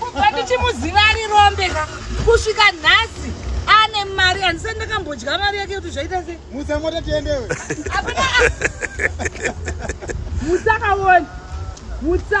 kubva ndichimuziva ari rombe ka kusvika nhasi ane mari handisati ndakambodya mari yake kuti zvaita se mutsa mota tiendewe apana mutsa kaoni mutsa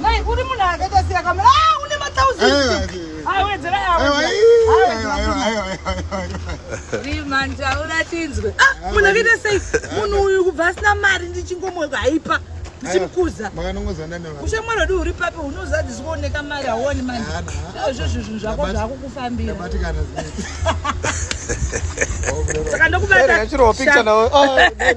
Mai uri munhu akaita sei akamira ah une ma thousand. Ah wedzera yawo. Rima ndaura tinzwe. Ah munhu akaita sei munhu uyu kubva asina mari ndichingomweka haipa. ndichimukuza ushamwari wedu uri papi unoziva kuti zvikuoneka mari hauoni manje izvo zvinhu zvako zvakukufambira saka ndokubata